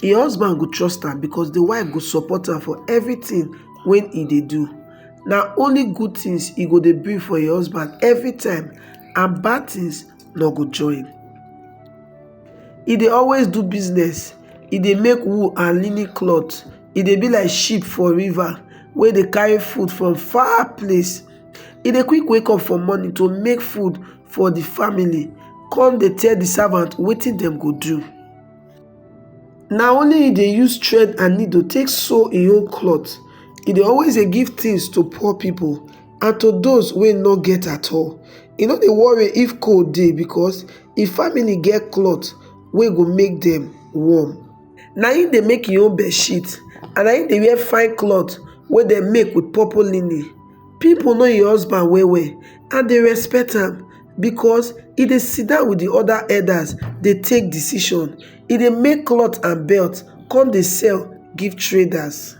Im husband go trust am because di wife go support am for everything wey e dey do. Na only good things e go dey bring for im husband every time and bad things nor go join. E dey always do business, e dey make wool and linen cloth, e dey be like ship for river wey dey carry food from far place. E dey quick wake up for morning to make food for di family come dey tell di servant wetin dem go do. na only him dey use thread and needle take sew him own cloth he dey always dey give things to poor people and to those wey no get at all he no dey worry if cold dey because him family get cloth wey go make dem warm na him dey make him own bedsheet and na him dey wear fine cloth wey dem make with purple linen people know him husband well well and dey respect am because e dey sidon with the other herders dey take decision e dey make cloth and belt come dey sell give traders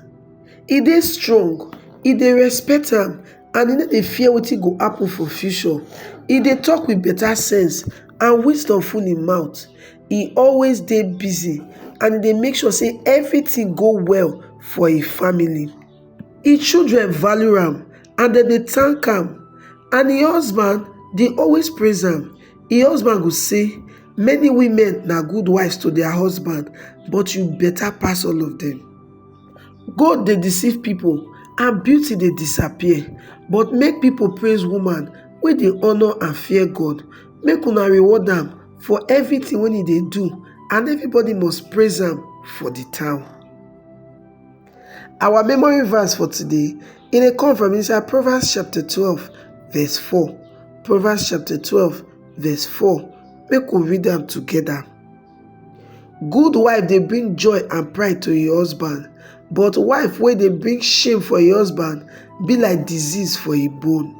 e dey strong e dey respect am and e no dey fear wetin go happen for future e dey talk with better sense and wisdom full him mouth e always dey busy and e dey make sure say everything go well for him family Im children value am and dem dey thank am and im husband dey always praise am. Im husband go say, Many women na good wives to their husband, but you better pass all of them. Gold dey deceive people and beauty dey disappear, but make people praise woman wey dey honor and fear God. Make una reward am for everything wey e dey do, and everybody must praise am for the town. Our memory verse for today, e dey come from inside Proverbs chapter 12 verse 4. Proverbs chapter 12 verse 4. Make we read am together. Good wife dey bring joy and pride to im husband, but wife wey dey bring shame for im husband be like disease for im bone.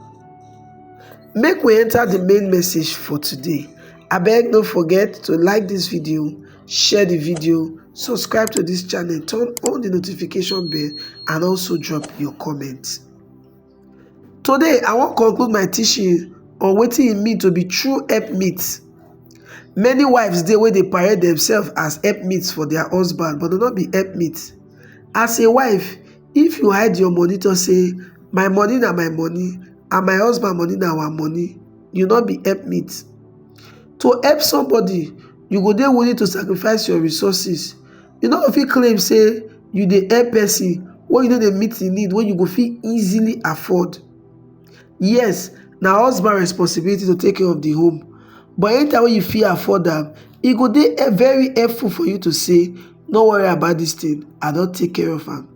Make we enter the main message for today. Abeg no forget to like this video. Share the video, subscribe to this channel, turn on the notification bell and also drop your comment. Today, I wan conclude my teaching on wetin e mean to be true helpmate. Many wives dey wey dey parade themselves as helpmates for their husband but dem no be helpmates. As a wife, if you hide your money talk say my money na my money and my husband money na our money, you no be helpmate. To help somebody, you go dey willing to sacrifice your resources. You no go fit claim say you dey help person when you no dey meet the need when you go fit easily afford. Yes, na husband responsibility to take care of the home but anytime when you fit afford am, e go dey very helpful for you to say no worry about this thing, I don take care of am.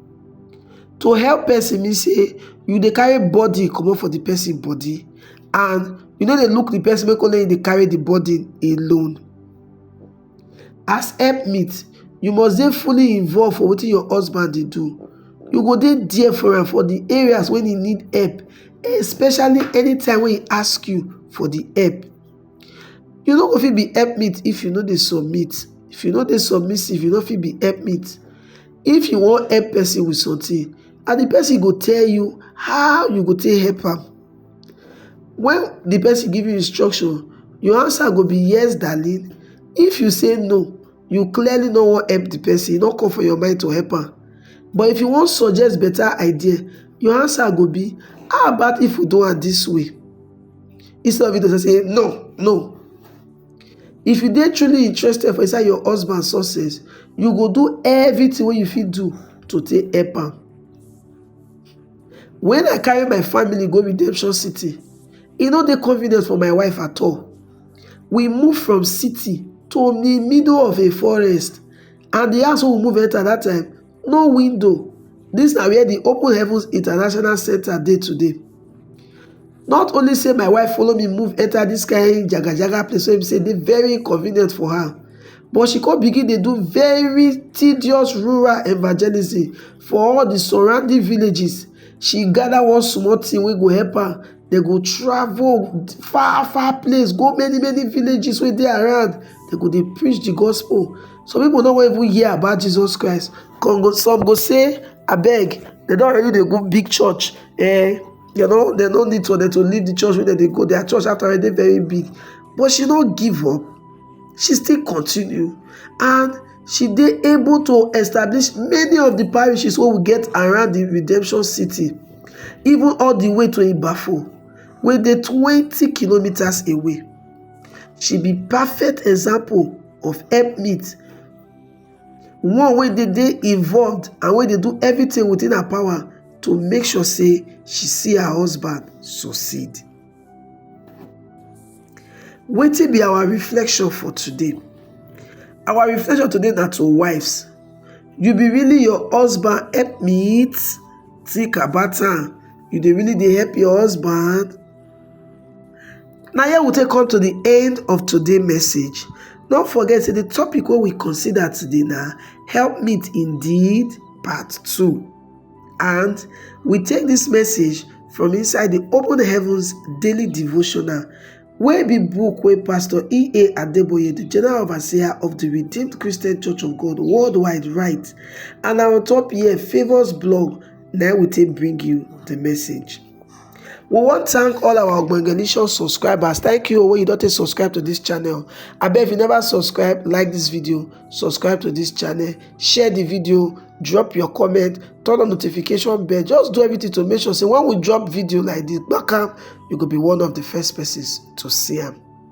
To help person mean say you dey carry body comot for the person body and you no dey look the person make only you dey carry the body alone. As help meet, you must dey fully involved for wetin your husband dey do. You go dey there for am for the areas wey he need help especially anytime wey he ask you for the help. You no go fit be help meet if you no dey submit. If you no dey submissive, you no fit be help meet. If you wan help person with something and the person go tell you how you go take help am, when the person give you instruction, your answer go be yes darling. If you say no, you clearly no wan help the person, e no come for your mind to help am. But if you wan suggest better idea, your answer go be how about if we do am this way instead of you to say no, no. If you dey truly interested for inside your husband success, you go do everything wey you fit do to take help am. When I carry my family go Redemption City, e no dey convenient for my wife at all. We move from city to the middle of a forest and the house wey we move enter that time no window dis na where di open heavens international centre dey today not only say my wife follow me move enter this kind jaga jaga place wey be say dey very inconvenient for her but she come begin dey do very tedious rural evangelism for all the surrounding villages she gather one small thing wey go help her dem go travel far far place go many many villages wey dey around dem go dey preach the gospel some people no even hear about jesus christ come go some go say abeg they don already dey go big church eh they no they no need to they to leave the church wey they dey go their church after already very big but she no give up she still continue and she dey able to establish many of the parishes wey we get around the redemption city even all the way to ibafo wey dey twenty kilometres away she be perfect example of helpmeet one wey dey dey involved and wey dey do everything within her power to make sure say she see her husband succeed. Wetin be our reflection for today? Our reflection today na to wives. You be really your husband helpmeet? Think about am. You dey really dey help your husband? Now here we take come to the end of today's message. Don't forget say the topic what we consider today now help meet indeed part two. And we take this message from inside the Open Heavens Daily Devotional wey be book wey pastor ea adeboye the general overseer of the redeemed christian church of god worldwide write and na on top here favours blog na we take bring you the message we wan thank all our ogbonge nation subscribers thank you wey you don take subscribe to this channel abeg if you never subscribe like this video subscribe to this channel share the video drop your comment turn on notification bell just do everything to make sure say when we drop video like this back up you go be one of the first persons to see am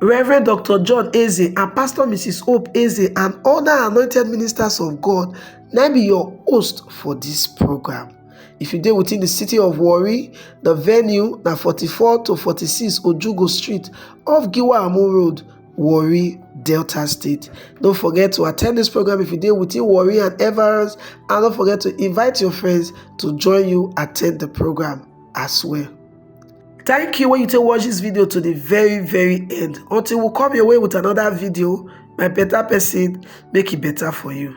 Reverend Doctor John Eze and Pastor Mrs. Hope Eze and other anointed ministers of God na be your host for this program. If you dey within the city of Warri, the venue na 44 to 46 Ojugo Street off Giwa Amu Road, Warri, Delta State. Don't forget to attend this program if you dey within Warri and Everest, and don't forget to invite your friends to join you attend the program as well. thank you when you take watch this video to the very very end until we come your way with another video my better person make it better for you